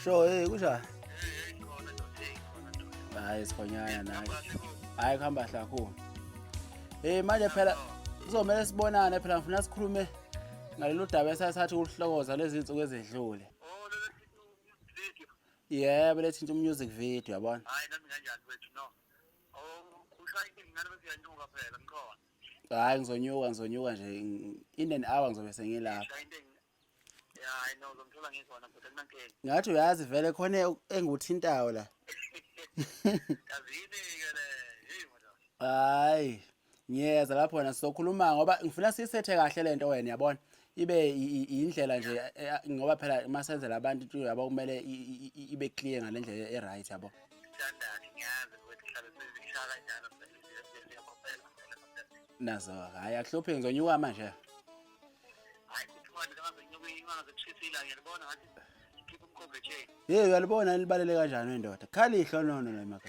Sho, hey kunjani? Hayi sikhonyana naye. Hayi kuhamba kahle kakhulu. Eh manje phela kuzomele sibonane phela ngifuna sikhulume ngalolu daba esathatha ukuhlokoza lezi zinsuku ezedlule. Yebo lethinta umusic video yabona. Hayi nami kanjani wethu no. hayi ngizonyuka ngizonyuka nje in an hour ngizobe sengilapha ngathi uyazi vele khona engikuthintayo la hayi ngiyeza lapho wena sizokhuluma ngoba ngifuna siyisethe kahle lento wena yabona ibe indlela nje eh, eh, ngoba phela uma senzela abantu into yabo kumele ibe clear ngale ndlela e-right yabo nazo hayi akuhluphi ngizonyuka manje yeyi uyalibona libalele kanjani wendoda khali ihlonono lemaka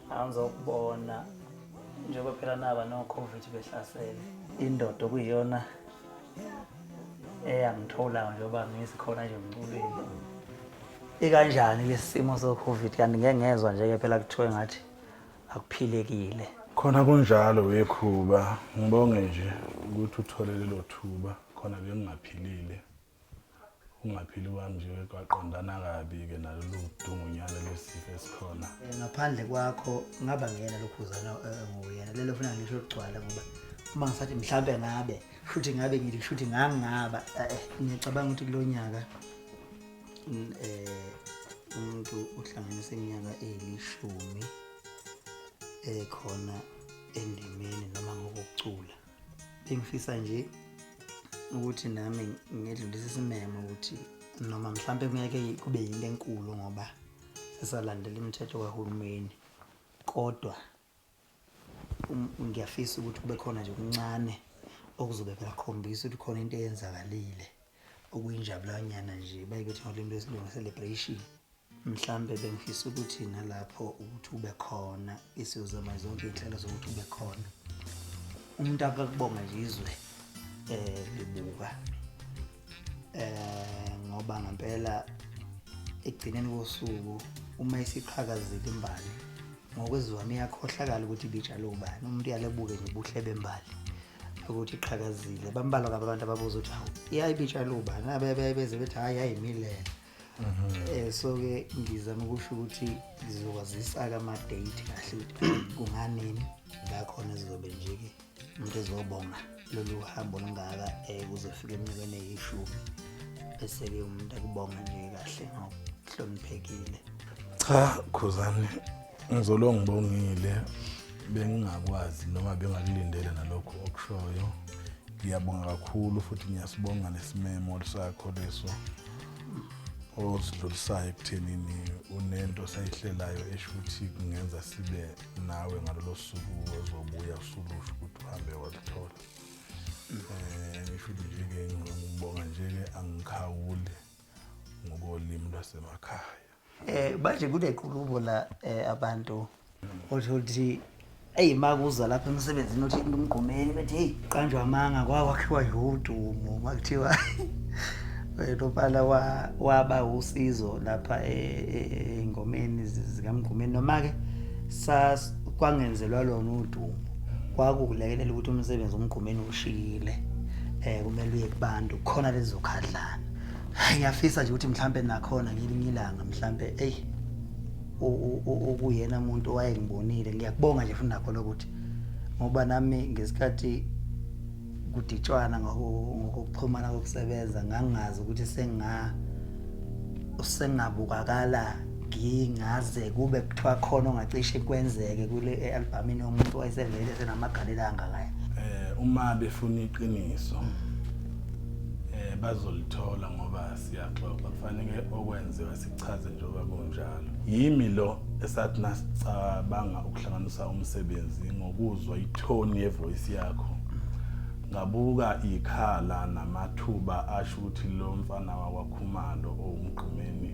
angizokubona njengoba phela naba no-covid behlasele indoda okuyiyona eyangithola njengoba ngisikhona nje emculweni ikanjani lesi simo so-covid kanti ngeke ngezwa nje-ke phela kuthiwe ngathi akuphilekile khona kunjalo wekhuba ngibonge nje ukuthi uthole lelo thuba khona bengingaphilile Ungaphili kwami nje kwaqondana kabi-ke nalolu dungunyana lwesifo esikhona. Eh, ngaphandle kwakho ngaba ngiyena lokhuzana eh, nguyena lelo funa ngisho kugcwala ngoba uma ngisathi mhlawumbe ngabe futhi ngabe ngithi futhi ngangingaba eh, eh, ngiyacabanga ukuthi kulo nyaka mm, eh, umuntu uhlanganisa iminyaka eyilishumi ekhona endimeni noma ngokucula bengifisa nje ukuthi nami ngedlulise isimemo ukuthi noma mhlawumbe kungeke kube yinto enkulu ngoba sisalandela imithetho kahulumeni kodwa um, ngiyafisa ukuthi kube khona nje kuncane okuzobe kuyakhombisa ukuthi khona into eyenzakalile okuyinjabulanyana nje bayibethe ngolimi lwesilungu celebration mhlambe bengifisa ukuthi nalapho ukuthi ube khona isiyozama zonke iy'nhlelo zokuthi ube khona umuntu akakubonga nje izwe eh libuka eh ngoba ngempela ekugcineni kosuku uma isiqhakazile imbali ngokwezivami iyakhohlakala ukuthi ibijalo ubani umuntu uyalebuke nje ubuhle bembali ukuthi iqhakazile bambalwa kabi abantu ababuza ukuthi hawu iyayibitshalo ubani abebeze bethi hhayi yayimilela um so ke ngizama ukusho ukuthi ngizokwazisa-ke ama-date kahle ukuthi kunganini la khona zizobe nje-ke umuntu ezobonga lolu hambo olungaka um kuzofika eminyakweni eyishumi bese-ke umuntu akubonga nje kahle ngokuhloniphekile cha khuzane Ngizolo ngibongile bengingakwazi noma bengakulindele nalokho okushoyo. Ngiyabonga kakhulu futhi ngiyasibonga nesimemo sakho leso osidlulisayo ekuthenini unento sayihlelayo esho ukuthi kungenza sibe nawe ngalolo suku ozobuya usulusho ukuthi uhambe waluthola um eh, ngisho ukuthi nje-ke ngibonga nje-ke angikhawuli ngokolimi lwasemakhaya Eh manje kunequlubo la eh, abantu othola ukuthi eyi makuza lapha emsebenzini othi into umgqumeni bethi heyi qanjwa amanga kwawakhiwa yodumo makuthiwa wena opala wa- waba usizo lapha e- e- ey'ngomeni zi- zikamgqumeni noma-ke sa- kwangenzelwa lona udumo kwakukulekelela ukuthi umsebenzi umgqumeni ushile um kumele uye kubantu khona lezokhadlana ngiyafisa nje ukuthi mhlampe nakhona ngelinye ilanga mhlampe eyi ukuyena muntu owayengibonile ngiyakubonga nje futhi nakho lokuthi ngoba nami ngesikhathi kuditshwana ngokuxhumana kokusebenza ngangazi ukuthi senga usengabukakala ngingaze kube kuthiwa khona ongacishe kwenzeke kule albhamini yomuntu wayesevele senamagalela angakaya eh uma befuna iqiniso mm. Eh bazolithola ngoba siyaxoxa kufanele okwenziwa sichaze njengoba kunjalo. Yimi lo esathi nasicabanga ukuhlanganisa umsebenzi ngokuzwa itone yevoice yakho ngabuka ikhala namathuba asho ukuthi lo mfana wakwakhumalo owumgqumeni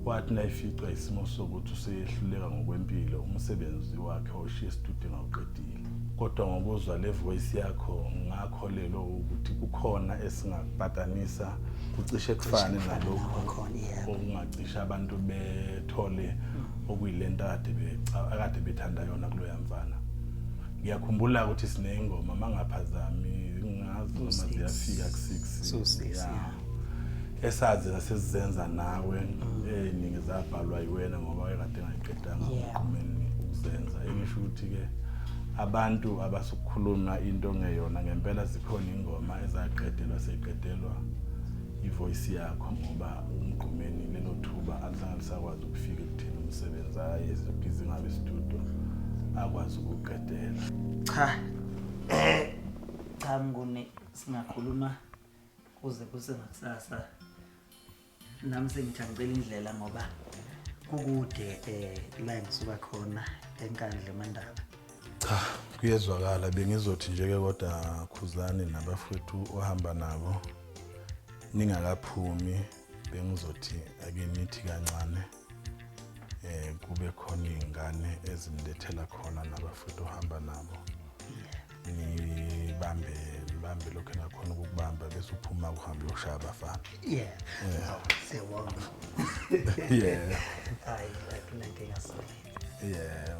wathi nayificwa isimo sokuthi useyehluleka ngokwempilo umsebenzi wakhe oshiye esitudini awuqedile kodwa ngokuzwa le voice yakho ngakholelwa ukuthi kukhona esingapatanisa kucishe kufane nalokho okungacisha abantu bethole okuyilento akade akade bethanda yona kuloya mfana ngiyakhumbula ukuthi sineyingoma mangaphazami ngazi noma ziyafika ku-six esazi nasizenza nawe mm. eningi eh, zabhalwa yiwena ngoba ekade ngayiqedanga umqhumeni ukuzenza engisho ukuthi ke abantu abasukhuluma into ngeyona ngempela zikhona ingoma ezaqedelwa seqedelwa ivoice yakho ngoba umqhumeni lelo thuba alizange lisakwazi ukufika ekutheni umsebenzi aye zibhizi ngabe studio akwazi ukuqedela cha eh cha mnguni singakhuluma kuze kuse ngakusasa nami sengithi angicela indlela ngoba kukude um la engisuka khona enkandla emandaba cha kuyezwakala bengizothi nje-ke kodwa khuzani nabafowethu ohamba nabo ningakaphumi bengizothi ake nithi kancane eh kube khona izingane ezimlethela khona nabafuthu uhamba nabo nibambe nibambe lokho nakhona ukukubamba bese uphuma uhambe uyoshaya abafana yeah yeah siyabonga yeah hayi akunankinga sona yeah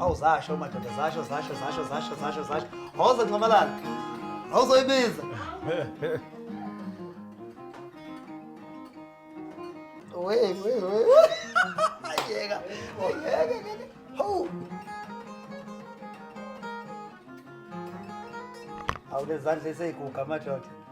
Awu zasho madoda zasho zasho zasho zasho zasho zasho. Hoza Nxamalala. Awuzoyibiza. Wey wey wey. Yeka. Yeka yeka. Ho. Awulezandla eseyiguga madoda.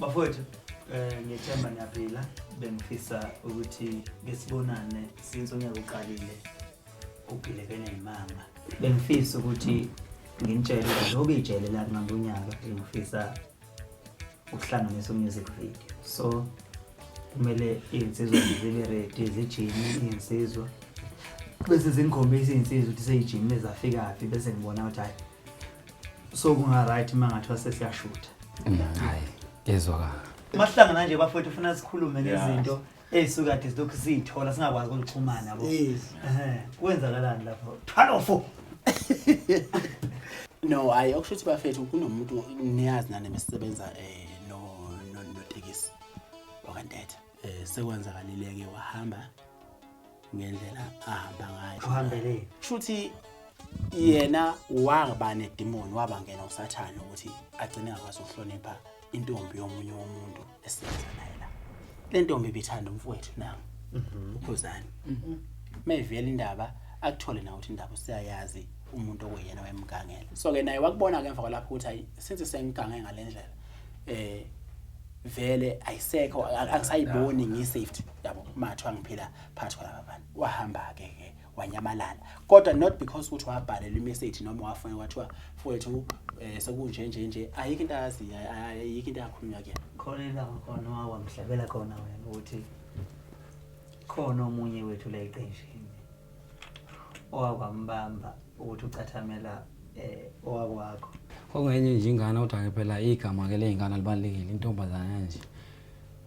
bafowethu eh ngiyethemba niyaphila bengifisa ukuthi besibonane since unyaka uqalile ugilekene yimanga bengifisa ukuthi nginitshele ukuthi njengoba ijele lakungambe unyaka bengifisa ukuhlanganisa umusic video so kumele iy'nsizwa zibe ready zijime iy'nsizwa bese zingikhombisa iy'nsizwa ukuthi seyijimile zafikaphi bese ngibona ukuthi hhayi so kunga-right uma ngathiwa sesiyashutha mm, hhayi ezwakala mahlangana nje bafowethu ufuna sikhulume ngezinto Hey sukade silokhu siyithola singakwazi kulixhumana yabo. Yes. Ehhe, kwenzakalani lapho? Thwalo fo. No, hayi okusho ukuthi bafethu kunomuntu niyazi nani mesisebenza eh no no notekisi wakandetha. Eh sekwenzakalile ke wahamba ngendlela ahamba ngayo. Uhambele. Shuthi yena waba nedemon wabangena usathane ukuthi agcine akwazi ukuhlonipha intombi yomunye womuntu esebenza naye la le ntombi ibithanda umfowethu nami mhm. ukhuzani mhm. mayivela indaba akuthole na ukuthi indaba usiyayazi umuntu okuyena wayemgangela so ke naye wakubona ke emva kwalapho ukuthi ayi since sengigange ngalendlela eh vele ayisekho angisayiboni ngisafety yabo mathu angiphila phakathi kwalaba bantu wahamba ke ke wanyamalala kodwa not because ukuthi wabhalelwa imessage noma wafona kwathiwa mfowethu um eh, sekunje nje nje ayikho into ayaziyo ayikho into yakhulunywa kuyena khona ilanga khona wawamhlabela khona wena ukuthi khona omunye wethu la eqenjini owakwambamba ukuthi ucathamela um owakwakho okungenye nje ingane kodwa ke phela igama-ke ley'ngane libalulekile intombazana nje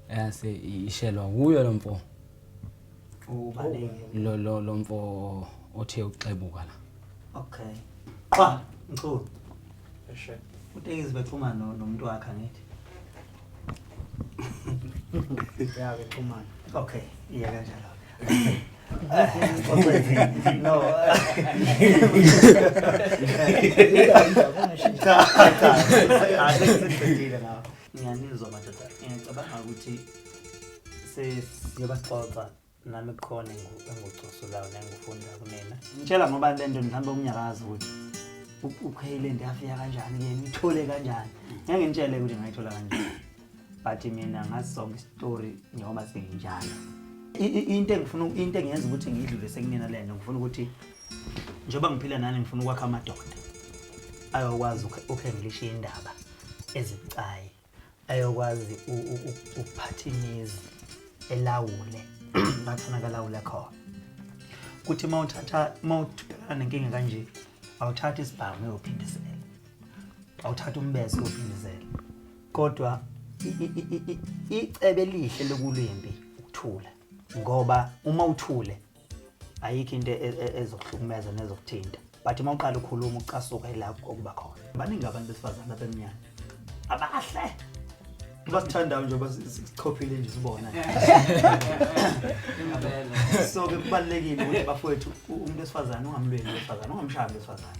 eyase ishelwa kuyo lo mfo Ubaleke. lo lo lo mfo othe uxebuka la Okay. Qwa, mchulu. Eshe. Utekizi bexhuma no nomuntu wakhe angithi. Ya ke xhumana. Okay, iya kanjalo. No. Cha, cha. Asiqedile ngawo. Ngiyanizwa madoda. Ngicabanga ukuthi siyobaxoxa nami kukhona engikucosulayo nengikufunda kunina ngitshela ngoba le nto mhlawumbe okunyakazi ukuthi ukheyile nto yafika kanjani ke ngithole kanjani ngeke ngitshele ukuthi ngayithola kanjani but mina ngazi sonke isitori njengoba singinjalo into engifuna into engiyenza ukuthi ngiyidlulise kunina le nto ngifuna ukuthi njengoba ngiphila nani ngifuna ukwakha amadoda ayokwazi ukhengilisha indaba ezibucayi ayokwazi ukuphatha imizi elawule la kufuneka alawule khona kuthi uma uthatha uma ubhekana nenkinga kanje awuthatha isibhamu uyophindisela awuthatha umbese uyophindisela kodwa icebe elihle lokulwimbi ukuthula ngoba uma uthule ayikho into e- e- ezokuhlukumeza nezokuthinta but uma uqala ukhuluma ucasuka ila okuba khona baningi abantu besifazane abemnyama abahle basithandayo nje basichophile nje sibona so ke kubalulekile ukuthi bafowethu u- umuntu wesifazane ungamlweli wesifazane ungamshaya wesifazane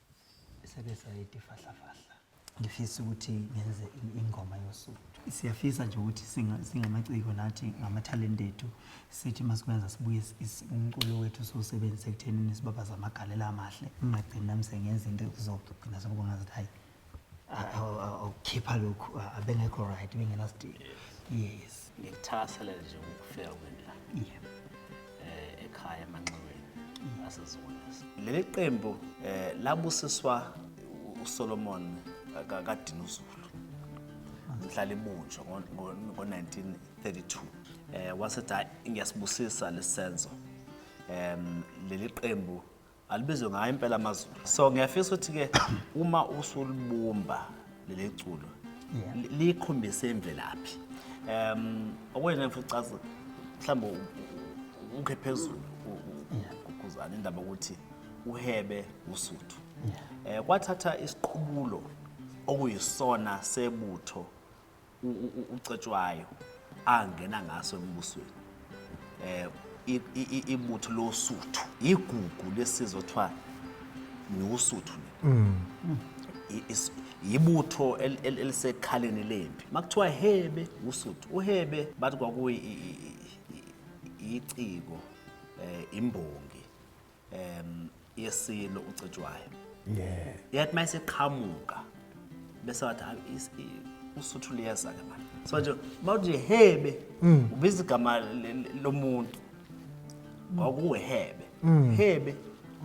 sebesayidi fahlafahla ngifisa ukuthi ngenze ingoma yosuku siyafisa nje ukuthi singamaciko nathi ngamathalente ethu sithi masikwenza sibuye umculo wethu siwusebenzise ekuthenini sibabaza amagalela amahle ngingagcini nami sengenza into ekuzogcina sekubonga ukuthi hayi awukhipha lokhu abengekho right bengenasidingo yes Ngikuthakasela nje ukufika kwenu la eh, ekhaya emanxiweni aseziweleza. Leli qembu eh, labusiswa uSolomon eh, kaDinuzulu mhlala ibunjwa ngo-1932 um wasethi hayi ngiyasibusisa lesi senzo um leli qembu alibizwe ngayo impela amazulu so ngiyafisa ukuthi-ke uma usulibumba leli culo Yeah. li- likhombise imvelaphi um okwena ngifuna ucaza mhlawumbe u- u- ukhe phezulu u- u- ugquzana indaba yokuthi uhebe usuthu um kwathatha isiqubulo okuyisona sebutho ucetshwayo angena ngaso embusweni eh ibutho losuthu igugu lesizwe kuthiwa niwusuthu mm. yibutho elisekhaleni lempi makuthiwa hebe usuthu uhebe bathi kwakuyi iciko eh imbongi um yesilo ucetshwayo yeah yet uma eseqhamuka bese wathi "Hayi, is- i- usuthu liyeza-ke manje so nje uma uthi nje hebe ubiza igama le- le- lomuntu kwakuwuhebe hebe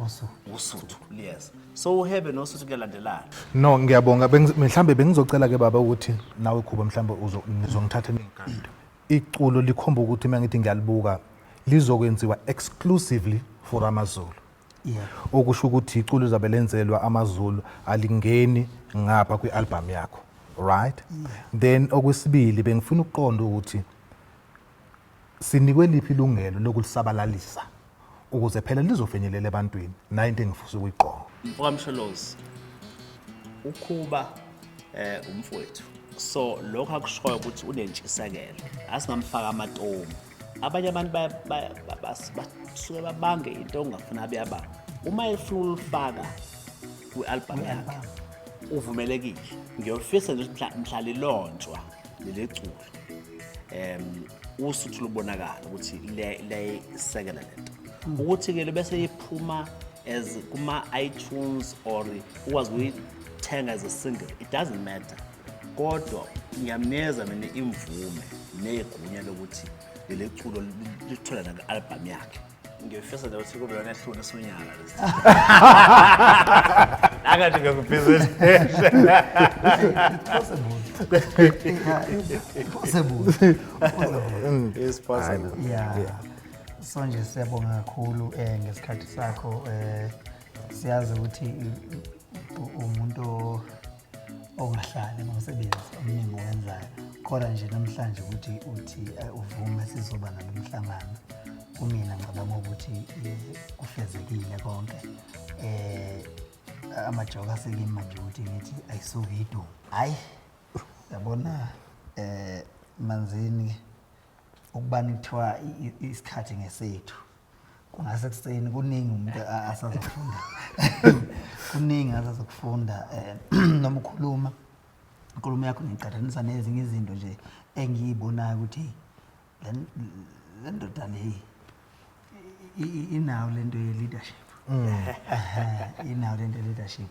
also usuthu liyeza so uhebe nosuthu kuyalandelana no ngiyabonga bengi- mhlawumbe bengizocela ke baba ukuthi nawe khuba mhlawumbe uzo- nizongithatha ningigade Iculo likhomba ukuthi uma ngithi ngiyalibuka lizokwenziwa exclusively for amaZulu. Yeah. Okusho ukuthi iculo lizabe lenzelwa amaZulu alingeni ngapha kwi-album yakho. Right? Yeah. Then okwesibili bengifuna ukuqonda ukuthi sinikwe liphi ilungelo lokulisabalalisa ukuze phela lizofinyelela ebantwini nayo into engifisa ukuyigqoka mfokamsholozi ukhuba eh umfowethu so lokho akushoyo ukuthi unentshisekelo asingamfaka amatomu abanye abantu basuke babange into ongafuna abeyabanga uma efuna ulifaka kwi-album yakhe uvumelekile ngiyofisa nje ukuthi mhlalilonjwa leli culo um usuthu lubonakala ukuthi liyayisekela le nto ukuthi-ke bese iphuma as kuma-itunes or ukwazi ukuyithenga as a single it doesn't matter kodwa ngiyamneza mina imvume negunya lokuthi leli culo litholana ku-albhamu yakhe ngiyofisa nje ukuthi kube yona ehlule sonyaka angathi ngiyakubhizinisi so nje siyabonga kakhulu um ngesikhathi sakho um siyazi ukuthi umuntu ongahlali nomsebenzi omningi owenzayo kodwa nje namhlanje ukuthi uthi eh, uvume sizoba nalo mhlangano kumina ngicabanga ukuthi eh, kufezekile konke eh amajoka asekimi manje ukuthi ngithi ayisuke iduma hayi yabona eh manzini ukubani kuthiwa isikhathi ngesethu kungase kuseni kuningi umuntu asazofunda kuningi asazokufunda eh, um noma ukhuluma inkulumo yakho ngiqathanisa nezinye izinto nje engiyibonayo ukuthi le ndoda leyi inawo le nto ye-leadership mm. inawo le nto ye-leadership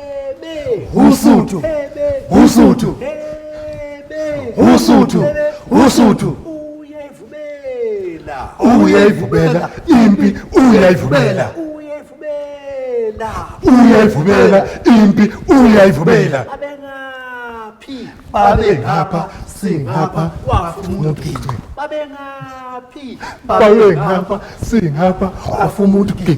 Usuthu. Usuthu. Usuthu. Usuthu. Uyayivumela. Uyayivumela impi uyayivumela. Uyayivumela. Uyayivumela impi uyayivumela. Abengaphi. Babengapha singapha wafuna ugiqe. Babengaphi. Babengapha singapha wafuna ugiqe.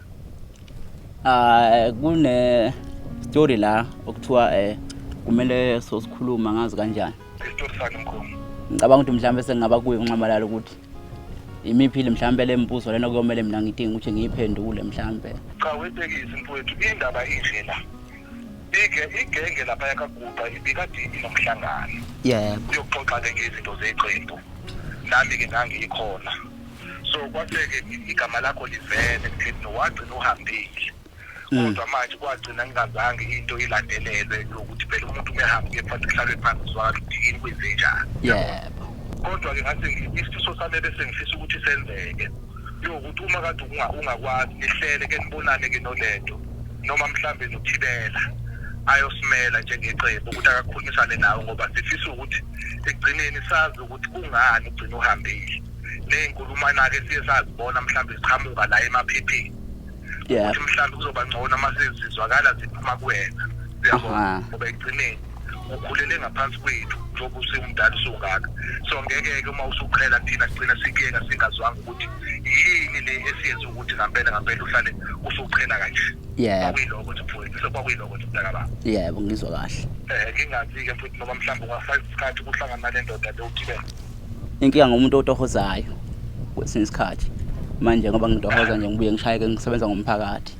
Ah kune story la okuthiwa eh kumele sosikhuluma ngazi kanjani. Isitori sakhe mkhulu. Ngicabanga ukuthi mhlawumbe sengingaba kuye unxamalala ukuthi imiphile mhlawumbe le mbuzo lena kuyomele mina ngidinga ukuthi ngiyiphendule mhlawumbe. Cha wetekisi mfowethu indaba inje la. Ike igenge lapha yakaguqa ibikade inomhlangano. Yebo. Yokuxoxa ke ngezinto zeqembu. Nami ke ngangikhona. so kwaseke igama lakho livele kutheni wagcina uhambile mm. kodwa manje kwagcina ngingazange into ilandelelwe yokuthi phela umuntu umehamba kephansi kuhlalwe phansi zwakala ukuthi yini kwenzenjani yebo kodwa-ke ngathi isifiso sami ebesengifisa ukuthi senzeke yokuthi uma kade ungakwazi nihlele ke nibonane-ke nolento noma mhlawumbe nothibela ayosimela njengeqembu ukuthi akakhulumisane nawe ngoba sifisa ukuthi ekugcineni sazi ukuthi kungani ugcina uhambile ney'nkulumanake siye sazibona mhlawumbe ziqhamuka la emaphepheni Yeah. ukuthi mhlawumbe kuzoba ngcono uma sezizwakala ziphuma kuwena uyabo Aha. ngoba ekugcineni ukhulele ngaphansi kwethu njengoba usewumdala usungaka so ngeke-ke uma usuqhela thina kugcina sikuyeka singazwanga ukuthi yini le esiyenza ukuthi ngampela ngampela uhlale usuqhela kanje Yebo. kwakuyiloko nje mfowethu so kwakuyiloko nje mntaka baba Yebo, ngizwa kahle. um ngingazi-ke futhi noma mhlawumbe ungasayisa isikhathi kuhlangana nale ndoda le uthibela Inkinga ngomuntu otohozayo kwesinye isikhathi manje ngoba ngitohoza nje ngibuye ngishayeke ngisebenza ngomphakathi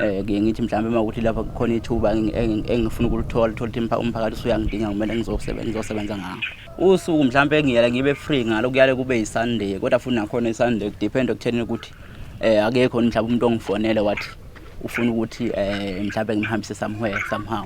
eh ngiye ngithi mhlawumbe uma ukuthi lapha kukhona ithuba engifuna ukulithola thola ukuthi umphakathi usuyangidinga kumele ngizosebenza ngizosebenza ngawo usuku mhlawumbe ngiyale ngibe free ngalo kuyale kube yisunday kodwa futhi nakhona isunday kudepend ekutheni ukuthi eh akekho mhlawumbe umuntu ongifonele wathi ufuna ukuthi eh mhlawumbe ngimhambise somewhere somehow